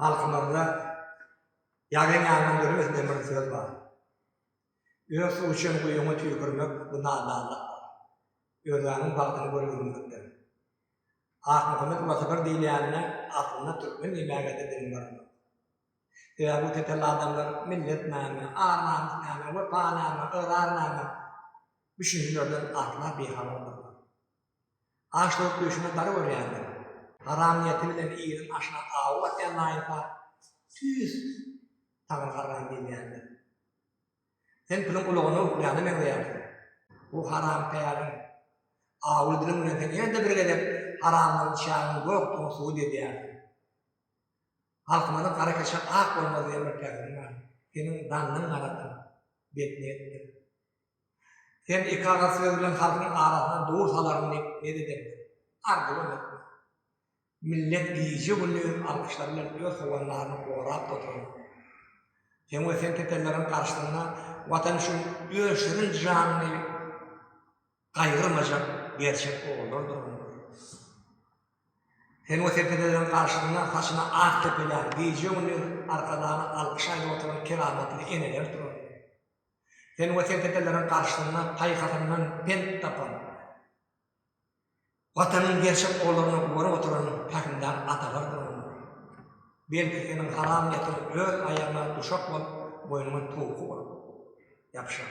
Halkymyzda Ýagyn ýandan döremez diýen bir söz bar. Öz suw içen guýyňa tüýkürmek, bu nadanlykdyr. Özgäniň bagtyny görübilmekdir. Akmuhammet Ulasagar diýilýänine aslynda türkmen diýmäge-de diliň baranok. Sebäbi bu tetelli adamlar millet näme, ar-namys näme, wepa näme, ygrar näme düşünjülerden asla bihabardyrlar. Aşlygyň düýşüne dar görýändir. Haram niýeti bilen iriň aşyna awy atýan laýynka, Tüýs, Taňry garran diýilýändir. Sen piliň ulagyna uklaýana meňzeýärsiň. Bu haram päliň awuly diliň bilen sen ýene-de bir gezek haramdan çägiň ýokdugyny subut edýärsiň. Halkymyzyň Gara keçe ak bolmaz diýen bir pähimi bar. Seniň dannyň garadyr, betniýetdir. Sen iki agaz söz bilen halkyň arasyndan dur salaryn diýip umyt edemdir. Arzuwam etme. Millet gije-gündiz alkyşlar bilen öz howandaryny gorap oturan. Sen we sen tepenleriň garşysynda Watan üçin öz şirin janyny gaýgyrmajak gerçek ogullar durandyr. Sen we sen tepenleriň garşysynda saçyna ak kepelän, gije-gündiz Arkadagly alkyş aýdyp oturan keramatly eneler duran. Sen we seň dedeleriň garşysyna paýhasyndan pent tapan, Watanyň gerçek ollaryna gorap oturan pähimdar atalar durumydyr. Belki, seniň haram niýetiň öz aýagyňa duşak bolup, boýnuňa towky bolup ýapyşar.